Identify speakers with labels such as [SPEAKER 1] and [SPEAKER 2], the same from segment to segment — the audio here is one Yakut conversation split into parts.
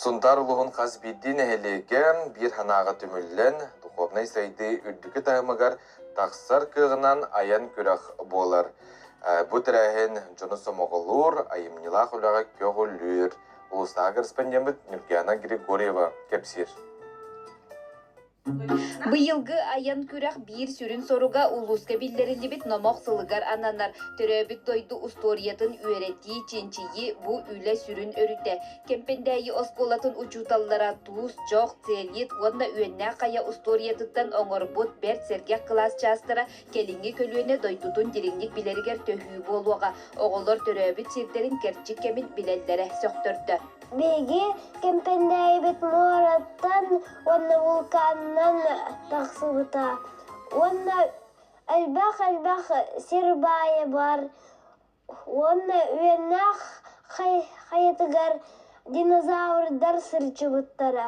[SPEAKER 1] Сунтаар улуһун хас биирдии нэһилиэгэ биир санааҕа түмүллэн, духовнай сайдыы үрдүкү таһымыгар тахсар кыаҕынан айан күрэх буолар. Бу тэрээһин дьону сомоҕолуур, айымньылаах үлэҕэ көҕүлүүр. Улуустааҕы корреспонденбыт Нюргиана Григорьева кэпсиир. Быйылгы айан күрэх биир сүрүн соруга улууска биллэриллибит номох сылыгар ананар төрөөбүт дойду устуоруйатын үөрэтии, чинчийии бу үлэ сүрүн өрүтэ. Кэмпэндээйи оскуолатын учууталлара Туус, Дьох, Целит уонна Үөннээх Хайа устуоруйатыттан оҥорбут бэрт сэргэх кылаас чаастара кэлиҥҥи көлүөнэ дойдутун дириҥник билэригэр төһүү буолуоҕа. Оҕолор төрөөбүт сирдэрин кэрчик кэмин билэллэрэ сөхтөрдө. Биһиги Кэмпэндээйибит муораттан уонна вулканынан тахсыбыта уонна элбэх-элбэх сир баайа бар уонна үөннээх хайатыгар динозаврдар сырчыбыттара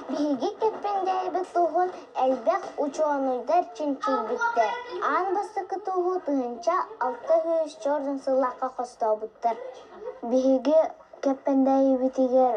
[SPEAKER 1] биһиги Кэппэндээйбит туһун элбэх учуонуйдар чинчийбиттэр аан бастакы туһу тыһыынча алта сүүс черный сыллаахха хостообуттар биһиги Кэппэндээйибитигэр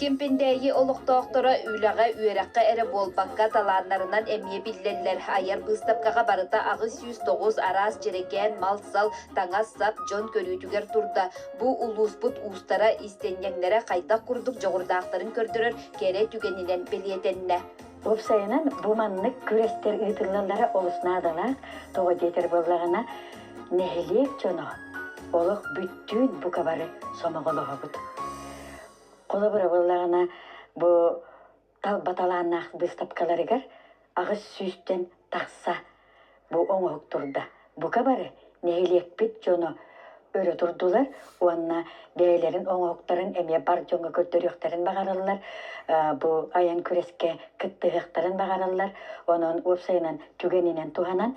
[SPEAKER 1] Кимпиндээйи олохтоохторо үлэҕэ, үөрэххэ эрэ буолбакка, талааннарынан эмиэ биллэллэр. Айар быыстапкаҕа барыта аҕыс сүүс тоҕус араас дьэрэкээн, мал-сал, таҥас-сап дьон көрүүтүгэр турда. Бу улууспут уустара, истиэнньэҥнэрэ хайдах курдук дьоҕурдаахтарын көрдөрөр кэрэ түгэнинэн бэлиэтэннэ. Уопсайынан, бу маннык күрэстэр ыытыллаллара олус наадалаах, тоҕо диэтэр буоллаҕына, нэһилиэк дьоно олох бүттүүн бука бары сомоҕолоһобут. Холобура буоллаҕына, бу талба талааннаах быыстапкаларыгар аҕыс сүүстэн тахса бу оҥоһук турда. Бука бары нэһилиэкпит дьоно өрө турдулар уонна бэйэлэрин оҥоһуктарын эмиэ бар дьоҥҥо көрдөрүөхтэрин баҕараллар, бу айан күрэскэ кыттыһыахтарын баҕараллар. Онон уопсайынан түгэнинэн туһанан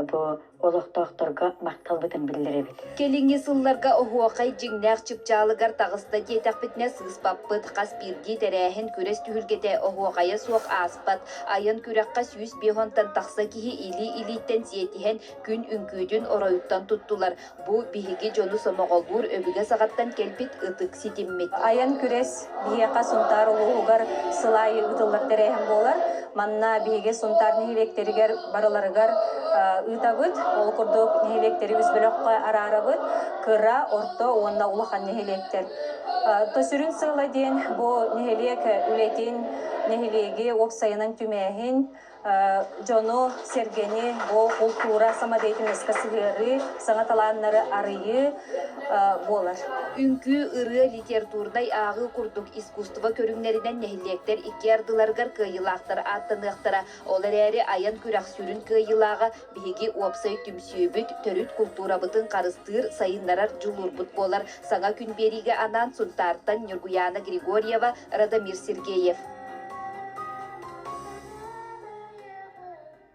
[SPEAKER 1] бу олохтоохторго махталбытын биллэрэбит. Кэлиҥҥи сылларга оһуохай дьиҥнээх чыпчаалыгар таҕыста диэтэхпитинэ сыыспаппыт. Хас биирдии тэрээһин күрэс түһүлгэтэ оһуохайа суох ааспат. Айан күрэххэ сүүс биэс уонтан тахса киһи илии-илииттэн сиэтиһэн күн үҥкүүтүн оройуттан туттулар. Бу биһиги дьону сомоҕолуур өбүгэ саҕаттан кэлбит ытык ситиммит. Айан күрэс биһиэхэ Сунтаар улууһугар сыл аайы ыытыллар тэрээһин буолар. Манна биһиги Сунтаар нэһилиэктэригэр барыларыгар ыытабыт. Ол курдук нэһилиэктэри үс бөлөххө араарабыт, кыра, орто уонна улахан нэһилиэктэр. То сүрүн сыала диэн бу нэһилиэк үлэтин нэһилиэги уопсайынан түмээһин дьону, сэргэни бу култуура самодеятельноска сыһыарыы, саҥа талааннары арыйыы буолар. Үҥкүү, ырыа, литературнай ааҕыы курдук искусство көрүҥнэринэн нэһилиэктэр икки ардыларыгар кыайыылаахтар ааттаныахтара. Ол эрээри айан күрэх сүрүн кыайыылааҕа Биһиги уопсай түмсүүбүт, төрүт култуурабытын харыстыыр, сайыннарар дьулуурбут буолар. Саҥа күн биэриигэ анаан Сунтаартан Ньургуйаана Григорьева, Радомир Сергеев.